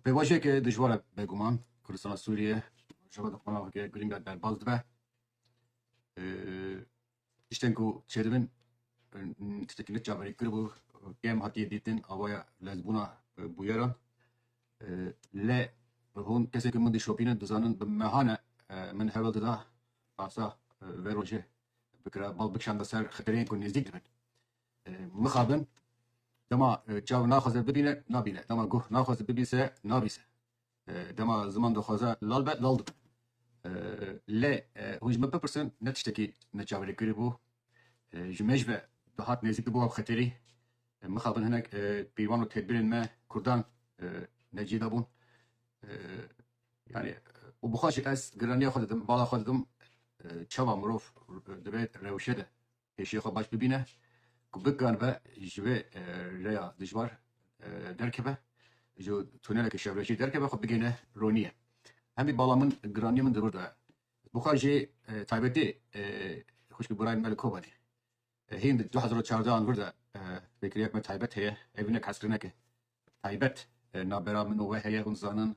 Pêvajoyeke dijwar e beguman. Kurdistana Sûriyê rojeva di qonageke girîng de derbas dibe. Tiştên ku çêdibin tiştekî ne çaverî kiribû kêm hatiye dîtin awaya lezbûna bûyeran. Lê hûn kesên ku min dişopînin dizanin bi mehan e min hewl dida rasa vê rojê bikira bal bikişanda ser xetereyên ku nêzdîk dibin. mixabin, dema çav naxwaze bibîne, nabîne, dema guh naxwaze bibîse, nabîse, dema ziman dixwaze lal be, lal dibe. Lê hûn ji min bipirsin, ne tiştekî me çaverê kiribû, ji me ji ve dihat nêzîk dibû ev xeterî, mixabin hinek pîvan û tedbirên me kurdan ne cî dabûn. Yanî û bi xwe jî ez giraniya xwe didim, bala xwe didim, çawa mirov divê rewşe de Hêşiyê xwe baş bibîne ku bikaribe ji vê rêya dijwar derkeve, ji tuneleke şevrekê derkeve xwe bigihîne ronîyê. Hemî bala min, giranîya min di rû de ye. Bi xwe jî taybetî xwişkî Burayê me li Kobanê hîn di du hezar û çardeh an vir de pêkiriyek me taybet heye. Ev hinek hezkirineke taybet navbera min û we heye. Hûn dizanin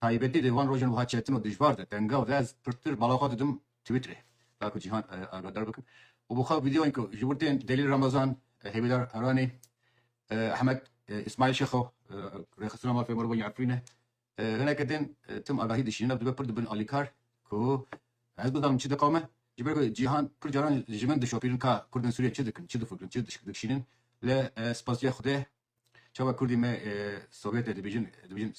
Taybetî di van rojan wiha çetin û dijvar de tenga ve ez pirtir bala xwe didim twîtrê ta ku cîhan agadar bikim û bi xwe vîdeoyên ku ji wir tên Delîl Ramazan, Hêvîdar Heranî, Ehmed Îsmaîl Şexo, rêxistina mafê mirovan ya Efrîne hineke tên tim agahî dişînin ev dibe pir di bin alîkar ku ez bizanim çi diqewime ji ber ku cîhan pir caran ji min dişopînin ka Kurd ên Sûriyê çi dikin, çi difikirin, çi dişînin lê spasîya Xwedê Çawa kurdî me Sovyetê dibêjin dibêjin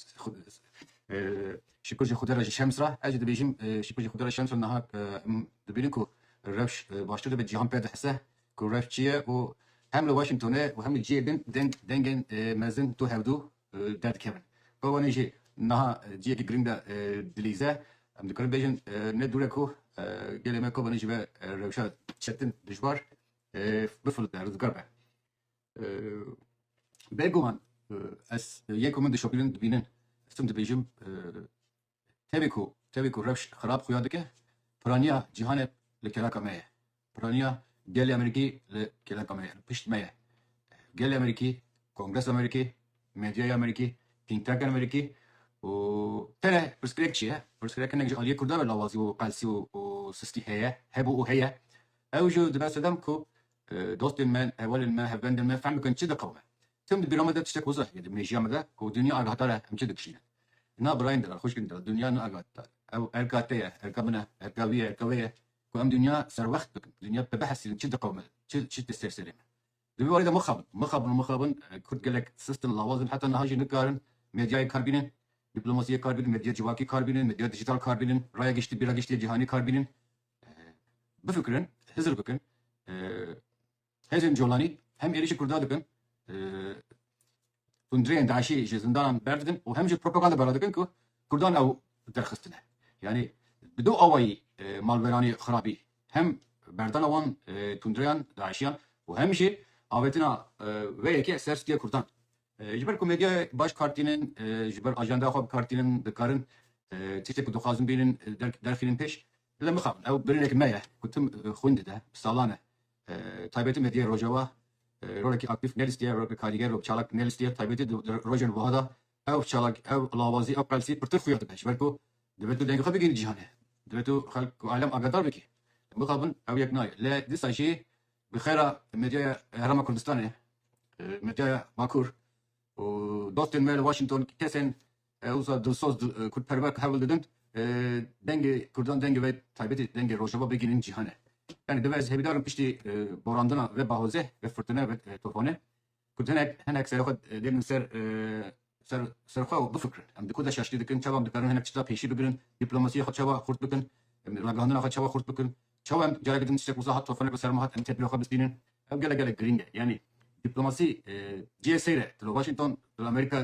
şikur jî xwedê re ji şems re ez jî dibêjim şikur jî xwedê re şems re niha em dibînin ku rewş baştir dibe cîhan pê dihise ku rewş çi ye û hem li Washingtonê û hem li cihê din deng dengên mezin tu hevdû derdikevin. Ba wanê jî niha cihekî girîng de dilîze em dikarin bêjin ne dûr e ku gelê me Kobanê ji ber rewşa çetin dijwar bifilite rizgar be. Beguman ez yek ku min dişopînin dibînin ez tim dibêjim tevê ku tevê ku rewş xirab xuya dike piraniya cîhanê li kelaka me ye. Piraniya gelê Amerîkî li kelaka me ye, li pişt me ye. Gelê Amerîkî, Kongresa Amerîkî, medyaya Amerîkî, think tankên Amerîkî û tene pirsgirêk çi ye? Pirsgirêk hinek ji aliyê Kurdan re lawazî û qelsî û sistî heye, hebû û heye. Ew jî dibe sedem ku Dostên me, hevalên me, hevbendên me fehm bikin çi diqewime. Tim di bîra me de tiştek hozir heye di mejîya me de ku dinya agahdar e em çi dikişînin. Na birayên diran, xwişkên diran dinya ne agahdar e. Ew erka te ye, erka min e, erka wî ye, erka wê ye ku em dinya serwext bikin, dinya bibihesînin çi diqewime, çi çi tê ser serê me. Di vî warê de mixabin, mixabin û mixabin kurd gelek sist in, lawaz in heta niha jî nikarin medyayê kar bînin, dîplomasiyê kar bînin, medya civakî kar bînin, medya dijîtal kar bînin, raya giştî bîra giştî ya cîhanî kar bînin. Bifikirin, hizir bikin. Hêzên colanî hem êrîşê kurda dikin, hundirêyên DAIŞ'î ji zindanan berdidin û hem jî propaganda berda dikin ku kurdan ew derxistine. Yanî bi du awayî malweranî xirabî hem berdana wan tundreyan DAIŞ'îyan û hem jî avêtina vê yekê ser stîya kurdan. Ji ber ku medyayê baş kar tînin, ji ber ajendeya xwe bi kar tînin, dikarin tiştê ku dixwazin bînin derxînin pêş. Lem bixabin ew biryarek me ye ku tim xwîndê de bi salan e taybetî medyayê Rojava rolekî aktîf nelîstiye, rolekî karîger û çalak nelîstiye. Taybetî di rojên wiha de ew çalak, ew lawazî, ew qelsî pirtir xuya dibe. Ji ber ku divê tu dengê xwe bigihînî cîhanê. Divê tu xelk û alem agadar bikî. Lem bixabin ew yek nayê. Lê dîsa jî Bi xêra medyaya Herêma Kurdistanê, medyaya Bakur û dostên me li Washington kesên wisa dilsoz, kurdperwer ku hewl didin dengê kurdan dengê wê taybetî dengê rojava bigihînin cîhanê. Yanî divê ez hêvîdar bim piştî borandina vê bahozê, vê firtine, vê tofanê Kurd hinek hinek serê xwe dêrnin ser ser ser xwe û bifikirin. Em di ku de şaştî dikin çawa em dikarin hinek tişta pêşî bigirin, dîplomasîya xwe çawa xurt bikin, ragihandina xwe çawa xurt bikin, çawa em careke din tiştek wiza hat tofanek li ser me hat em tedbîra xwe bistînin. Ew gelek gelek girîng e. Yanî dîplomasî cihê seyr e. Tu li Washington, tu li Amerîka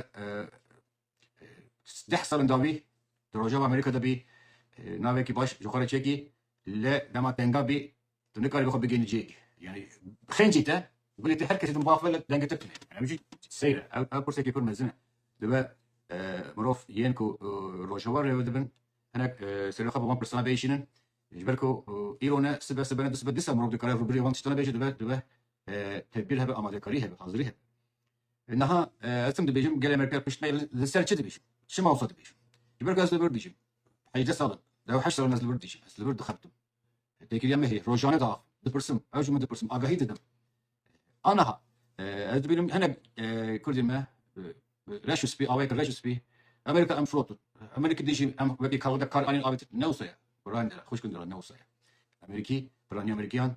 Deh sal in davî tu rojava Amerîka de bî navekî baş ji xwe re çêkî lê dema tenga bî tu nikarî bi xwe bigihînî cihê dî. Yanî xêncî te gulê te her kesî di mûxa xwe de dengtir tune. Ev jî seyr e. Ew pirsekî pir mezin e. Dibe mirov yên ku rojava rêve dibin hinek serê xwe bi van pirsan bihişînin ji ber ku îro ne sibe sibe ne du sibe dîsa mirov dikare rûbirûyê van tiştan bê jî dibe dibe tedbîr hebe, amadekarî hebe, hazirî hebe. Niha ez tim dibêjim gelê me pê pişt me li ser çi dibêjim? Çima xwe dibêjim? Ji ber ku ez li vir dijîm. Hejdeh sal in. Deh û heşt sal in ez li vir dijîm. Ez li vir dixebitim. Têkiliya me heye. Rojane diaxivim. Dipirsim. Ew ji min dipirsin. Agahî didim. Aniha ez dibînim hinek Kurdên me reş û spî awayeke reş û spî Amerîka em firotin. Amerîkî dijî em wekî kawada kar anîn avêtin. Ne wisa ye. Birayên dira, xwişkên dira ne wisa ye. Amerîkî, piranî Amerîkîyan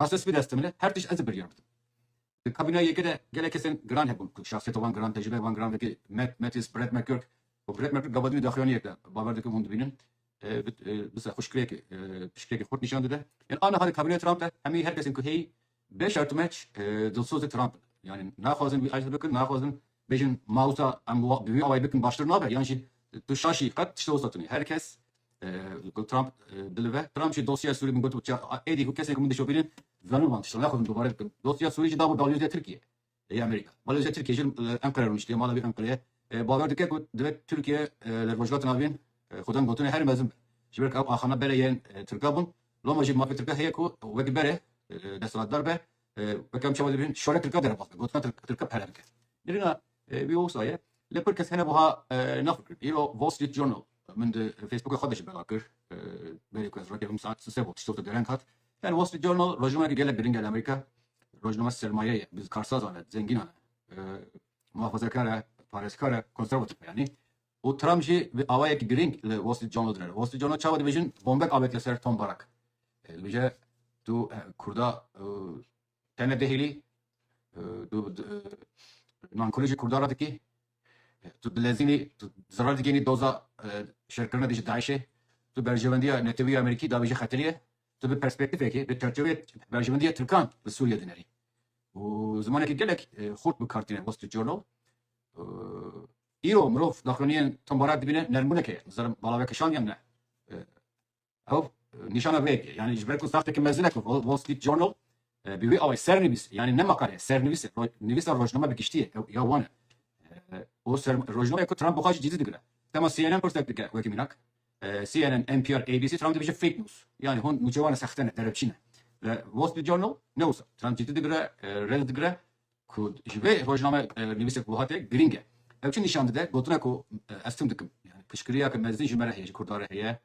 Aslê spî dest dimile her tişt ez ê biryar bidim. Di kabîneya yekê de gelek kesên giran hebûn ku şahsiyeta wan giran, tecrîbeya wan giran wekî Matt, Mattis, Brett McGurk û Brett McGurk gava din û daxuyaniyek de bawer dikim hûn dibînin bi serxweşkirêkê piştgirêkê xurt nîşan dide. Yan aniha di kabîneya Trump de hemî her kesên ku heyî bê şer tu meç dilsozê Trump in. Yanî naxwazin wî ejder bikin, naxwazin Bêjin ma wisa em bi wî awayî bikin baştir nabe yan jî tu şaşî qet tişta wisa tunî her kes ku Trump dilive Trump jî dosyeya Sûrî min gotibû çiya êdî ku kesên ku min dişopînin zanibû wan tişta naxwazim dubare bikim dosyeya Sûrî jî dabû balyoziya Tirkiyê yê Amerîka balyoziya Tirkiyê jî li Enqere rûniştiye mala wî Enqereyê bawer dike ku divê Tirkiye li Rojhilat Navîn xwedem gotinê herî mezin be ji ber ku ew axana bere yên Tirka bûn loma jî mafê Tirka heye ku wek bere desthilatdar be Pekem çawa dibin şore Tirka dere bas be gotina Tirka pere bike. Nirina wî osaye lê pir kes hene buha naxwe kir. Îro Wall Street Journal min di Facebooka xwe de ji bela kir berê ku ez rakevim saet sise bo tiştota dereng hat. Yani Wall Street Journal rojnameyeke gelek giring e li Amerîka. Rojname sermaye ye, bi karsazan e, zengînan e, muhafazekar e, parêzkar e, konservatif e yanî. û Trump jî bi awayek girîng li Wall Street Journal dinêre. Wall Street Journal çawa dibêjin bombek avêt li ser Tom Barak. Dibêje tu Kurda tene dihêlî, tu nankûrî ji Kurda re dikî, tu dilezînî, tu zirar digênî doza şerkirina dijî DAIŞ'ê, tu berjewendiya Netewî ya Amerîkî dabêjî xetirî ye, tu bi perspektîfekê, bi çerçeveyê berjewendiya Tirkan li Sûriyê dinerî. Û zimanekî gelek xurt bi kar tîne Wall Street Journal. Îro mirov daxuyaniyên tombarak dibîne nermbûneke ye. Nizanim balave kişand yan ne. Ew nîşana vê yekê. Yani ji ber ku saxteke mezin e ku Wall Street Journal bi wî awayê sernivîs yani ne makale sernivîs e nivîsa rojname bi giştî ye ew ya wan e. O rojname ku Trump bixwe jî cidî digire. Dema CNN pirsek dike wekî mînak CNN, NPR, ABC Trump dibêje fake news. Yani hûn nûçewan e sexte ne, derebçî ne. Wall Street Journal ne wisa. Trump cidî digire, rêz digire. Ku ji vê rojname nivîsek wiha tê girîng e. Ew çi nîşan dide? Gotina ku ez tim dikim. Yanî piştgiriya ki mezin ji me re heye, ji Kurdan re heye.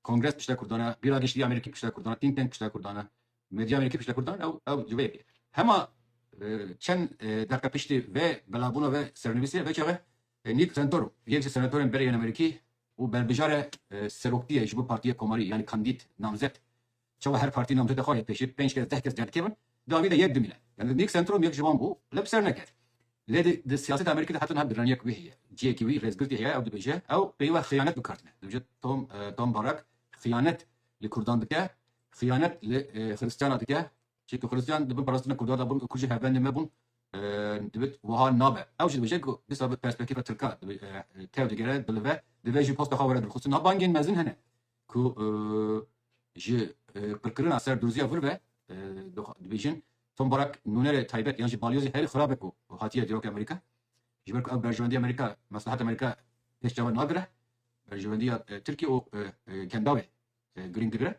Kongres pişta Kurdan e, Bîra Giştî ya Amerîkî pişta Kurdan e, Think Tank pişta Kurdan e, medya Amerîkî pişta Kurdan e û ew ji vê yekê. Hema çend deqe piştî vê belabûna vê sernivîsê vê çaxê Nick Santorum, yek ji senatorên berê yên Amerîkî û berbijare seroktiyê ji bo partiyê komarî yanî kandîd, namzet, Çawa her partî namzeta xwe yek pêşî pênc kes deh kes car dikevin, dawî de yek dimîne. Li Nîk Sentrum yek ji wan bû lê bi ser nekevî. Lê di di siyaseta Amerîkî de hetin hev diraniyek wî heye. Ciyekî wî rêzgirtî heye ew dibêje ew peyva xiyanet bi kar tine. Dibêje Tom Tom Barak xiyanet li kurdan dike, xiyanet li xiristiyana dike, Çînkî xulisiyan di bin parastina Kurdan de bûn, Kurd jî hevbendê me bûn. Divit wiha nabe. Ew jî dibêje ku dîsa bi perspektîfa Tirka tev digere, dilive. Divê jî posta xwe were dilxistin. Niha bangên mezin hene ku ji qirkirina ser Durziya vir ve dibêjin Tom Barak nûnerê taybet yan jî balyozê herî xirab e ku hatiye dîrokê Amerîka. Ji ber ku ew berjewendiya Amerîka, mesleheta Amerîka pêş çavan nagire. Berjewendiya Tirkiyê û Kendawê girîng digire.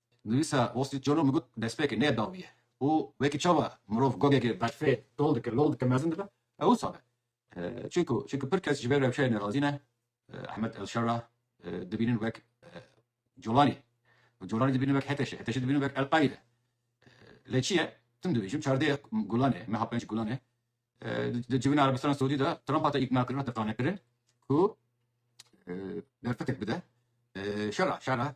Nivîsa Wall Street Journal min got destpêkê nê dawî ye û wekî çawa mirov gogekê berfê tol dike, lol dike, mezin dibe, ew wisa be. Çunku çunku pir kes ji vê rewşeyê nerazî ne, Ahmed El-Sharra dibînin wek Colanî û Colanî dibînin wek Heteşê, Heteşê dibînin wek El-Qaîde. Lê çi ye, tim dibêjim çardeh Gulanê, meha penc Gulanê di civîna Erebistana Siûdî de Trump hate îknakirin, hate qanekirin ku derfetek bide şera şera.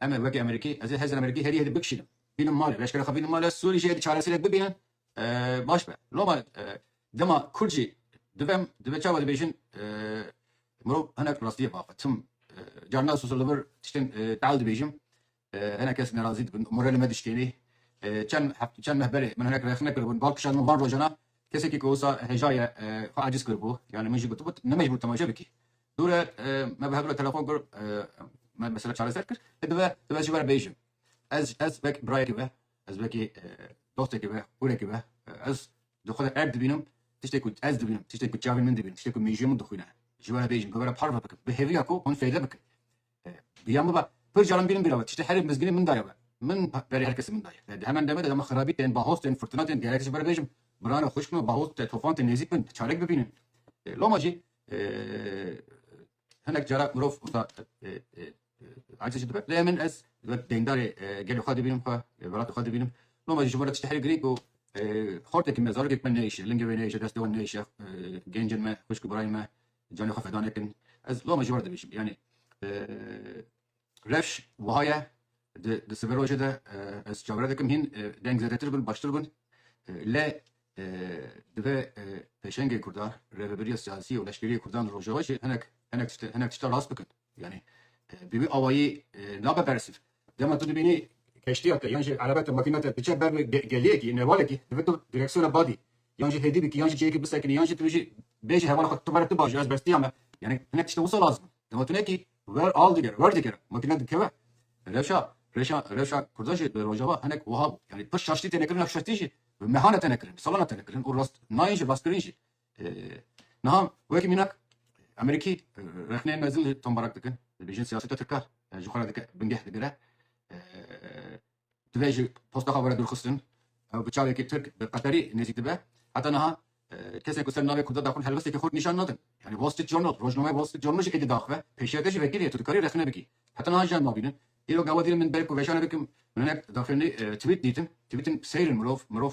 Em ê wekî Amerîkî, ez ê hêzên Amerîkî herî hêdî bikişînim. Bînim malê, leşkerê xwe bînim malê, Sûrî jî hêdî çareserek bibînin baş be. Loma dema Kurd jî dibe em, dibe çawa dibêjin mirov hinek rastiyê biaxe. Tim carina sosyal li vir tiştên teal dibêjim, hinek kes nerazî dibin, moralê me dişkênî. Çend heft çend meh berê min hinek rexne kiribûn, bal kişand min van rojan a, kesekî ku wisa hejaye xwe aciz kiribû, yanî min jî gotibû tu nemecbûr temaşe bikî. Dûre me bi hev re telefon kir me mesele çareser kir. Ti dibe tu ez ji ber bêjim. Ez ez wek birayekî be ez wekî dostekî be hûrekî be ez di xwe de erd dibînim tiştê ku ez dibînim tiştê ku çavên min dibînin tiştê ku mêjiya min dixwîne ji ber bêjim bi we re parve bikim bi hêviya ku hûn fêde bikin. Ya min ba pir caran bînin bîra me tiştê herî mizginê min daye me. Min berê her kesî min daye. Di heman demê de dema xirabî tên, bahoz tên, furtina tên gerek ji ber bêjim miran e, xwişkin e, bahoz tê, tofan tê nêzîk bin çarek bibînin. Loma jî hinek cara mirov wisa aciz jî dibe. Lê min ez wek deyndarê gelê xwe dibînim xwe, welatê xwe dibînim. Loma jî ji bo re tiştê herî girîng û xortekî me, zarokek me neyêşe, lingê wê neyêşe, destê wan neyêşe, gencên me, xwişk û birayên me, Carê xwe feda nekin. Ez loma ji wan re dibêjim. Yanî rewş wiha ye di sive rojê de ez çavre dikim hîn deng zedetir bûn baştir bûn. Lê divê pêşengê kurdan, rêveberiya siyasî û leşkerî ya kurdan li rojava jî hinek hinek tişta rast bikin. Yanî bi vî awayî nabe bersiv. Dema tu dibînî keştiya te yan jî erebe te, makîna te diçe ber wê geliyekî, nevalekî divê tu direksiyona badî yan jî hêdî bikî yan jî cihêkî bisekinî yan jî tu jî bêjî hevala xwe tu vere tu baş î ez bestîya me. Yanî hinek tiştê wisa lazim e. Dema tu nekî ver al digere, wer digere makîna dikeve. Rewşa rewşa rewşa kurdan jî di rojava hinek wiha bû. Yanî pir şaştî têne kirin ev şaştî jî bi mehana têne kirin, bi salana têne kirin û rast nayên jî rastkirîn jî. Niha wekî mînak Amerîkî rexneyên mezin li tombarak dikin, dibêjin siyaseta tirka ji xwe re dike bingeh digire. Divê ji posta xwe were dûrxistin. Ew bi çavekî tirk bi qeterî nêzîk dibe. Heta niha kesên ku ser navê Kurda daxwin helwesteke xurt nîşan nadin. Yanî Wall Street Journal, rojnameya Wall Street Journal jî êdî daxwe, pêşiyeke ji vekîrê ye, tu dikarî rexne bikî. Heta niha jî em nabînin. Îro gawa dînin min belê ku veşarê bikim, min hinek daxuyanî twît dîtin. Twîtin seyr in mirov, mirov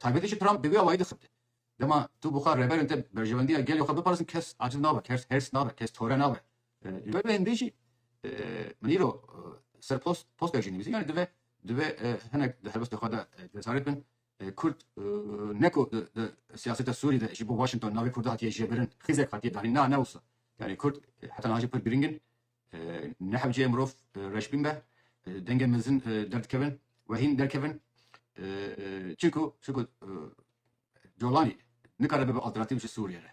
Taybetî jî Trump bi wî awayî dixebite. Dema tu bixwe rêberên te berjewendiya gelê xwe biparêzin kes aciz nabe, kes hêrs nabe, kes tore nabe. Ji ber vê hêndê jî min îro ser post postek jî nivîsî. Yanî dive dive hinek di helwestê xwe de cesaret bin. Kurd ne ku di siyaseta Sûrî de ji bo Washington navê Kurda hatiye jêbirin, xizek hatiye danîn. Na ne wisa. Yanî Kurd heta niha jî pir girîng in. Nehewceye mirov reşbîn be, dengên mezin derdikevin û hîn derkevin. Çimku şikû Colanî nikare bibe alternatîf ji Sûriyê re.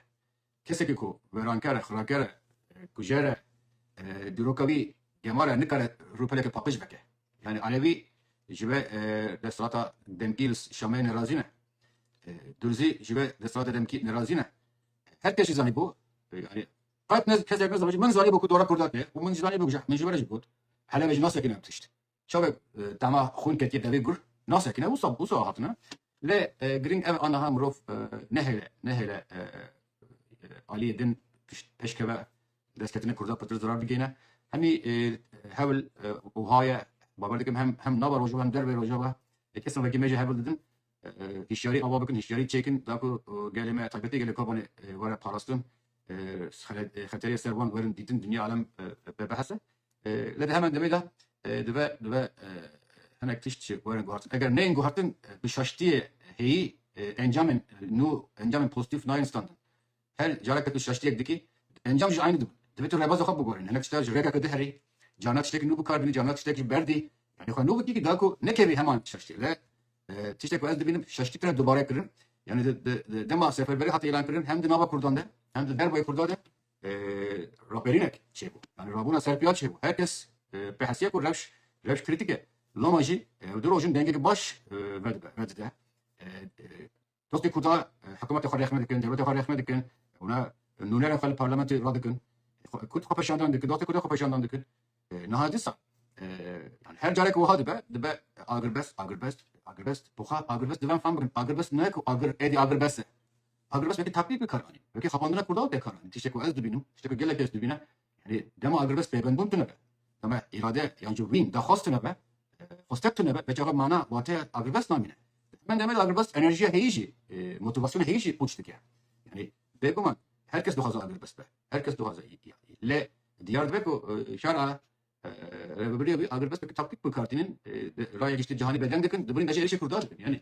Kesekî ku werankere, xiraker e, kujer e, dîroka wî gemar e nikare rûpeleke paqij veke. Yanî alevî ji we desthilata demkî li Şamê nerazî ne. Durzî ji we desthilata demkî nerazî ne. Her kes jî zanîbû yanî Qet ne kesek ne zanibû. Min zanî bû ku dora kurdan tê û min jî zanî bû jeh. Min ji we re jî got, Helebê jî nas sekine ev tişt. Çavek tahma xwîn ketiye devê gur nas sekine wisa wisa hatine. Lê girîng ev e aniha mirov nehêle nehêle aliyê din tişt pêş keve. Destketina kurdan pirtir zirar digihîne. Hemî hewl wiha ye, bawer dikim hem nava rojava hem dervê rojava kesin wekî me jî hewl didin. Hişyarî ava bikin, hişyarî çêkin da ku gelê me taybetî gelê Kobanê were parastin, xeterê ser wan werin dîtin, dinya alem bi behs e. Lê di heman demê de dibe dibe hinek tişt jî werin guhartin. Eger neyên guhartin bi şaştiyê hêyî encamên nû, encamên pozîtîf nayên standin. Her careke tu şaştiyek dikî, encam jî aynî dibin. Divê tu rêbaza xwe bigorî. Hinek tişta ji rêkeke din herî, carna tiştekî nû bikar bînî, carna tiştek jî berdî. Yanî xwe nû bikî da ku nekevî heman şaştiyê. Lê tiştek ku ez dibînim şaştî tune dubare kirin. Yanî di dema seferberî hate îlankirin hem di nava kurdan de hem di dervayê kurdan de raperînek çêbû. Yanî rabûna serpiya çêbû. Her kes pê hesiye ku rewş rewş krîtîk e. Loma jî ew di rojin dengekî baş vedide. Tostê Kurda hikûmetê xwe rêxme dikin, dewletê xwe rêxme dikin, hûna nûnerên xwe li parlamentê radikin. Kurd xwepeşandan dikin, Tostê Kurda xwepeşandan dikin. Niha dîsa yani her carek wiha dibe, dibe agirbest, agirbest, agirbest. Poxa agirbest divem fam bikin. Agirbest ne ku agir êdî agirbest e. Agirbest wekî taklîd bi kar anîn. Wekî xapandina Kurdan tê kar anîn. Tiştek ku ez dibînim, tiştek ku gelek kes dibîne. Yanî dema agirvez pêvendbûn tune be, dema îrade yan jî wîn daxwaz tune be, xwestek tune be, belkî re mana wateya agirvez namîne. Di heman demê de agirvez enerjiya heyî jî, motivasyona heyî jî pûç dike. Yanî bêguman her kes dixwaze agirvez be, her kes dixwaze lê diyar dibe ku şara Rêvebirîya wî agirvez wekî taktîk bi kar tînin, raya giştî cîhanî bêdeng dikin, di birî bejê êrişê Kurdan de bin. Yanî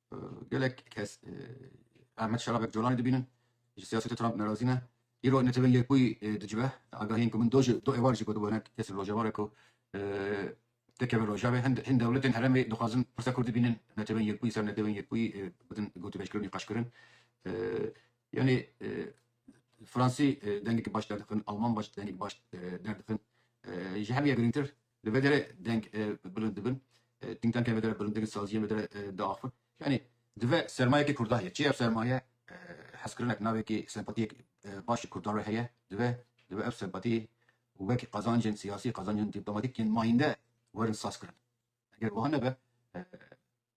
Gelek kes Ahmet Şerabek Colanê dibînin, ji siyasetê Trump nerazî ne. Îro Netewên Yekbûyî dicive agahiyên ku min do ji do êvar jî gotibû hinek kes li Rojavayê ku dikevin Rojavê. Hin dewletên herêmê dixwazin pirsa Kurdî bînin Netewên Yekbûyî ser Netewên Yekbûyî bidin gotûbêjkirin û qeşkirin. Yanî Fransî dengekî baş derdixin, Alman dengekî baş derdixin. Ji hemûyan girîngtir Li vê derê deng bilind dibin, tînktanken vê derê bilind dikin, saziyên vê derê diaxivin. Yanî divê sermayekî Kurdan heye. Çi ye ev sermaye? Hezkirinek, navekî, sempatiyek baş ji Kurdan re heye. Divê divê ev sempatî wek qazancên siyasî, qazancên dîplomatîk yên mayînde werin sazkirin. Eger wiha nebe.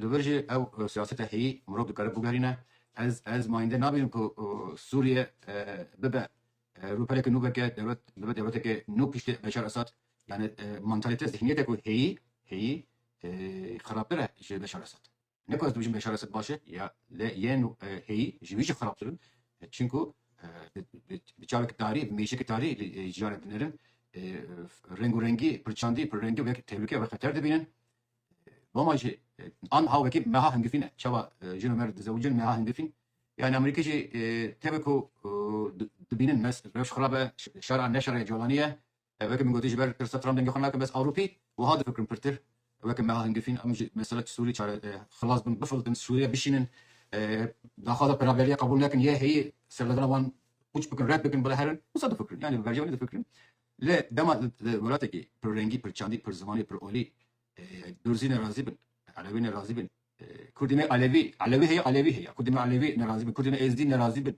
Li vir jî ew siyaseta heyî mirov dikare bigerîne. Ez ez mayîndê nabînim ku Sûriye bibe rûpeleke nû veke dewlet bibe dewleteke nû piştî Beşar Esad. Yani mantalîte zihnîyete ku heyî heyî xerabtir e ji Beşar Esad. Ne ku ez dibijim Beşar Esad baş e ya lê yên heyî ji wî jî xerabtir in. Çimku bi çaveke tarî bi mêşeke tarî jiyanek dinêrin. Rengûrengî pirçandî pirrengî wek tehlûke wek xeter dibînin. Roma jî anha wekî meha hingifîn e. Çawa jin û mer dizewicin meha hingifîn. Yani Amerîkî jî tevê ku dibînin mes rewş xirab e, şera ne şerê colanî ye. Wekî min gotî ji ber tirsa Trump dengê xwe nakim bes Ewropî wiha difikirin pirtir. Wekî meha hingifîn em ji mesela Sûrî çare xilas bin, bifiltin, Sûriye bişînin, daxwaza peraveriyê qebûl nekin, yê heyî serlevera wan pûç bikin, red bikin bila herin, wisa difikirin. Yani bi bercewendî difikirin. Lê dema li welatekî pirrengî, pirçandî, pirzimanî, pirolî Durzî nerazî bin, Elewî nerazî bin, Kurdî ne Elewî, Elewî heye Elewî heye, Kurdî ne Elewî nerazî bin, Kurdî ne Êzdî nerazî bin,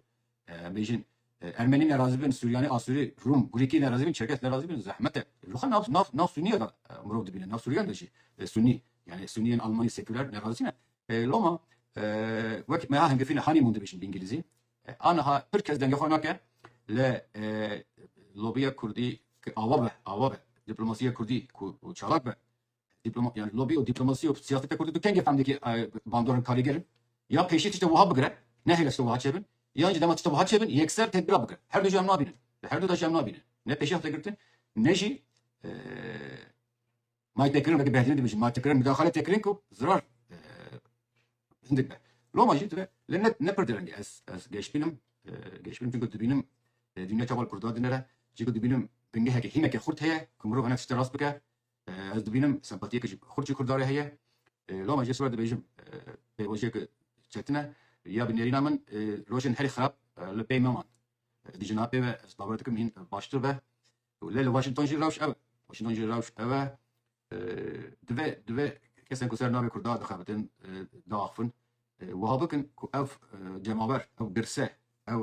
em bêjin Ermenî nerazî bin, Suryanî, Asûrî, Rûm, Grîkî nerazî bin, Çerkes nerazî bin zehmet e. Li xwe nav nav nav Sûnîyan de mirov dibîne, nav Sûryan de jî Sûnî yanî Sûnîyên Almanî sekuler nerazî ne. Loma wek meha hingifîne honeymoon dibêjin bi îngilîzî. Aniha pir kes dengê xwe nake li lobiya kurdî ku awa be awa be dîplomasiya kurdî ku çalak be yani lobi û dîplomasî û siyaseta kurdî du kengê fendekî bandor in karîger in ya pêşî tişta wiha bigire nehêle tişta wiha çêbin yan jî dema tişta wiha çêbin yekser tedbîra bigire her du jî em nabînin li her du de jî em nabînin ne pêşî hate girtin ne jî May têkirin weke Behlîlî dibêjin ma têkirin mudaxale têkirin ku zirar hindik be. Loma jî dibe lê ne ne pir direngî ez ez geşbîn im geşbîn im çunku dibînim dînya çawa li Kurda dinire çîku dibînim bingeheke hîneke xurt heye ku mirov hinek tiştê rast bike ez dibînim sempatiyeke jî xurt jî Kurda re heye loma jê siwar dibêjim pêvajoyeke çetin e ya bi nêrîna min rojên herî xirab li pey me man dijîna pê ve ez bawer dikim hîn baştir be. Lê li Washington jî rewş ew e. Washington jî rewş ew e. Divê divê kesên ku ser navê Kurda dixebitin, diaxivin wiha bikin ku ev cemawer, ew girse, ew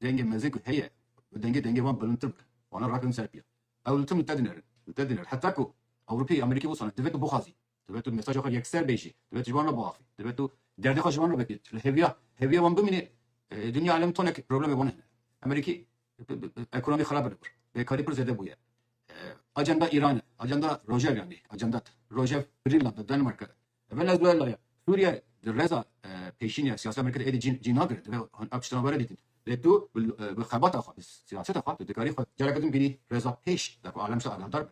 dengê mezin ku heye bi dengê dengê wan bilindtir bikin. Wana rakevin ser piya. Ew li tim li te dinerin. Li te dinerin. Heta ku Ewropî, Amerîkî wisa ne. Divê tu bixwazî. Divê tu mesaja xwe yekser bê jî. Divê tu ji wan re biaxî. Divê tu derdê xwe ji wan re vekî. Tu li hêviya hêviya wan bimînî e, dinya alem tonek problemê wan hene. Amerîkî ekonomî xerab li wir. Bêkarî pir zêde bûye. Ajenda Îran e. Ajenda Rojev yanî ajenda Rojev Grînland e, Danimarka e. Ve lez duye laye. Sûriye di reza pêşînê ya siyaseta Amerîkî de êdî cî cî nagirin. Divê hûn ev tiştan were dîtin. Lê tu bi xebata xwe, bi siyaseta xwe tu dikarî xwe careke din bînî reza pêş de ku alem ji te agahdar be.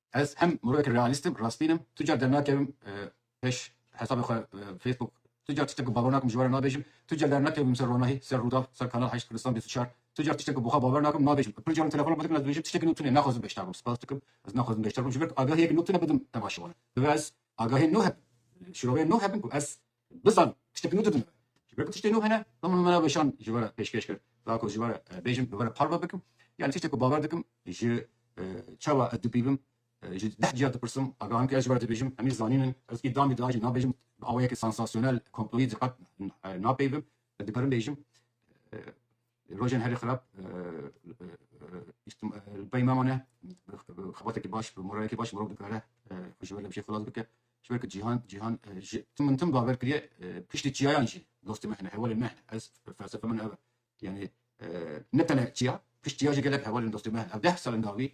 Ez hem mirovek realîst im, rastîn im. Tu car dernakevim pêş hesabê xwe Facebook, tu car tiştên ku bawer nakim ji we re nabêjim, tu car dernakevim ser ronahî, ser Rûdaw, ser Kanal heşt, Kurdistan bîst û çar, tu car tiştên ku bi xwe bawer nakim nabêjim. Pir caran telefona min dikin ez dibêjim tiştekî nû tune, naxwazim beşdar bim, spas dikim, ez naxwazim beşdar bim ji ber ku agahiyek nû tune bidim, tema şivan e. Divê ez agahiyên nû hebin, şîroveyên nû hebin ku ez Bizan tiştek nû didin. Ji ber ku tiştê nû hene, min min re weşan ji we re pêşkêş kir. Da ku ji we re bêjim, bi we re parve bikim. Yanî tiştê ku bawer dikim, ji çawa ez dipîvim, ji deh cîya dipirsim, agahan ku ez ji we re dibêjim, em ê zanîn in. Ez îdam jî da jî nabêjim, bi awayekî sansasyonel, komployî jî qet napeyivim. Dikarim bêjim. Li rojên herî xirab li pey me mane bi xebatekî baş bi moralekî baş mirov dikare xwe ji ber li bijî xilas bike ji ber ku cîhan cîhan ji tim min tim bawer kiriye piştî çiyayan jî dostê me hene hevalên me hene ez felsefe min ev e yanî ne tene çiya pişt çiya jî gelek hevalên dostê me hene ev deh salên dawî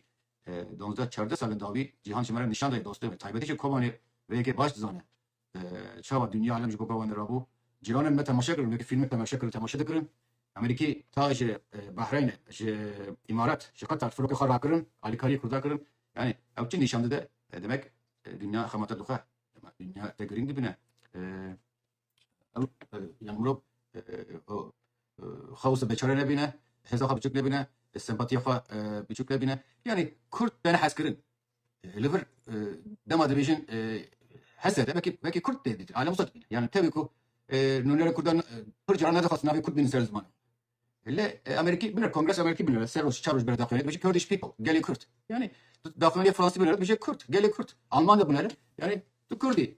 donsdeh çardeh salên dawî cîhan ji me re nîşan daye dostê me taybetî jî Kobanê vê yekê baş dizane Çawa dinya alem ji bo bewa nirabû. Cîranên me temaşe kirin, wekî fîlmek temaşe kirin, temaşe dikirin. Amerîkî ta ji Bahreynê, ji Îmarat, ji Qatar firokê xwe rakirin, alîkariyê kurda kirin. Yanî ew çi nîşan dide? Demek dinya xemate dixwe. Dema dinya te girîng dibine. Ew yanî mirov xwe wisa beçare nebîne, hêza xwe biçûk nebîne, sempatiya xwe biçûk nebîne. Yanî kurd têne hezkirin. li vir dema dibêjin hese de belkî belkî kurd tê dîtin alem sed yani tevî ku nûnera kurdan pir caran nedixwast navê kurd bînin ser ziman li Amerîkî binir kongresa Amerîkî binir ser roj çar roj binir daxuyanê dibêje Kurdish people gelê kurd yani daxuyanê Fransî binir dibêje kurd gelê kurd Alman de binir yani tu kurdî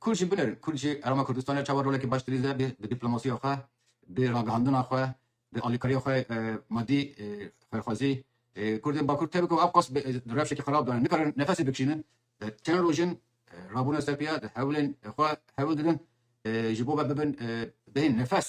Kurd jî binêr, Kurd jî Herêma Kurdistanê çawa rolekî baş dirîze bi dîplomasiya xwe, bi ragihandina xwe, bi alîkariya xwe madî, xêrxwazî. Kurdên Bakur tevî ku ev qas bi rewşekî xerab de ne, nikarin nefesê bikişînin. Çend roj in rabûne ser pîya di hewlên xwe hewil didin ji bo ve bibin bêhên nefes.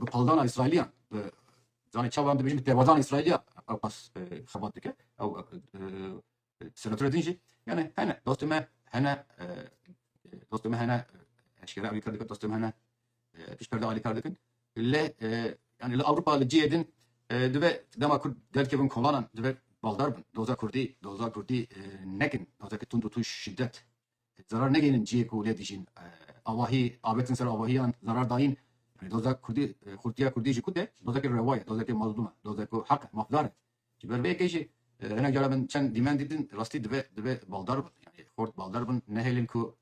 Bi qaldana Îsraîliyan bi zanê çawa em dibêjin bi têbazana Îsraîliyan ew qas xebat dike ew senatore din jî yani hene dostê me hene dostê me hene eşkere alî kar dikin dostê me hene pişt perde alî kar dikin lê yani li Ewropa li cihê din dibe dema Kurd derkevin kolanan dibe baldar bin doza Kurdî doza Kurdî nekin dozeke tund û tuj şiddet zarar negeyînin ciyê ku lê dijîn. Avahî, avêtin ser avahiyan zarar dayîn. Yanî doza kurdî, xurtiya kurdî jî kut e, dozeke rewa ye, dozeke mazlûm e, dozek ku heq e, mafdar e. Ji ber vê yekê jî hinek caran min çend dîmen dîtin, rastî dibe dibe baldar bin, yanî xort baldar bin, nehêlin ku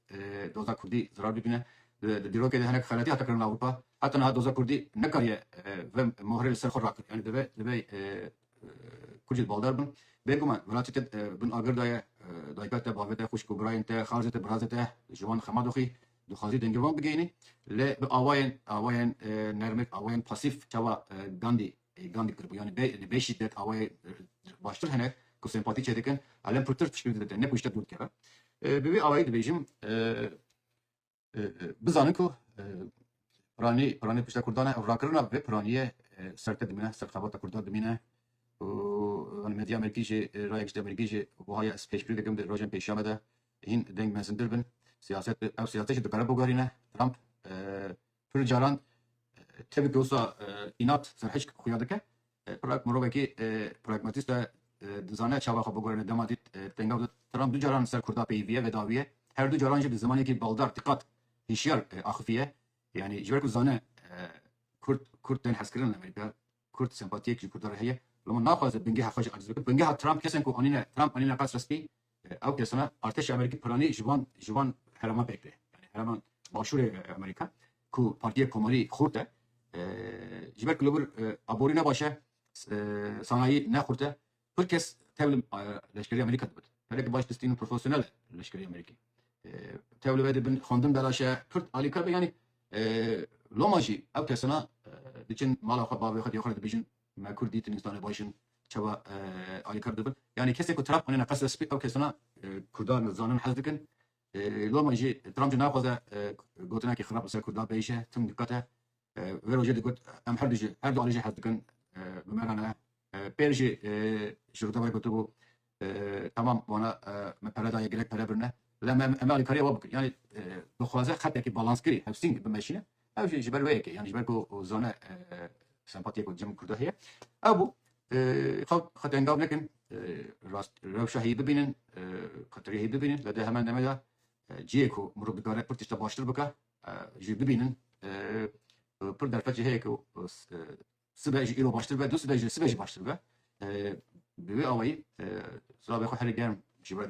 doza kurdî zarar bibîne. Di dîrokê de hinek xeletî hate kirin li Ewropa. Heta niha doza kurdî nekariye vê mohrê li ser xwe rakir. Yanî dibe dibe Kurcê di baldar bin. Bêguman welatê te bin agir da ye. Dayika te, bavê te, xwişk û birayên te, xarzê te, birazê te ji wan xema doxî. Dixwazî dengê wan bigeyînî. Lê bi awayên awayên nermik, awayên pasîf çawa Gandî Gandî kiribû. Yanî bê li bê şîdet awayê baştir hene ku sempatî çêdikin. Elem pirtir piştgirî dide te ne ku ji te dûr dikeve. Bi vî awayî dibêjim. Bizanin ku piranî piranî pişta Kurdan e û rakirina vê piranîyê serte dimîne, serxebata Kurdan dimîne û yani medya Amerîkî jî rayek ji Amerîkî jî wiha ye ez pêşbîrî dikim di rojên pêşiya de hîn deng mezintir bin. Siyaset ew siyaset jî dikare biguherîne. Trump pir caran tevî ku wisa înat serhişk xuya dike. Prag mirovekî pragmatîst e, dizane çawa xwe bigurîne. Dema dît tengav did, Trump du caran li ser Kurda peyivîye vedaviye, her du caran jî bi zimanekî baldar, tiqat, hîşyar axifiye. Yanî ji ber ku dizane Kurd Kurd tên hezkirin li Amerîka, Kurd sempatiyek ji Kurdan re heye. Loma naxwaze bingeha xwe jî aciz bike. Bingeha Trump kes in ku anîne Trump anîne qasra spî. Ew kesana artêşa Amerîkî piranî ji van ji van hereman pêk tê. Yani herema başûrê Amerîka ku Partiya Komarî xurt e ji ber kulebir aborî ne baş e sanayî ne xurt e pir kes tevlim leşkerê Amerîka dibit. Herek baş distîn û profesyonel e leşkerê Amerîkî. Tev li vê dibin xwendin belaş e pir alîkar be yanî loma jî ew kesana diçin mala xwe bavê xwe diyê xwe re dibêjin Me kurd dîtin însanê baş in çawa alîkar dibin. Yanî kesê ku Trump xwînêne qesre spî ew kesana kurdan nizanin hez dikin. Loma jî Trump jî naxwaze gotinekî xirab li ser kurdan bihişe. Tim diqet e. Vê rojê digot em herdu jî herdu alî jî hez dikin. Bi me re ne. Pêr jî ji Rojavayê gotibû Tamam wana me pere daye gelek pere birine. Bila me em alîkariya we bikin. Yanî dixwaze xetekî balanskirî hevsîn bimeşîne. Ew jî ji ber wê yekê. Yanî ji ber ku zane sempatiyê ku cem kurda heye. Ew bû. Xelk xwe tengav nekin. Rast rewşa heyî bibînin. Xetirê heyî bibînin. Lê di heman demê de cihê ku mirov dikare pir tişta baştir bike jî bibînin. Pir derfet jî heye ku Sibe ji îro baştir be, du sibe ji sibe jî baştir be. Bi vê awayî zirabê xwe herî germ ji we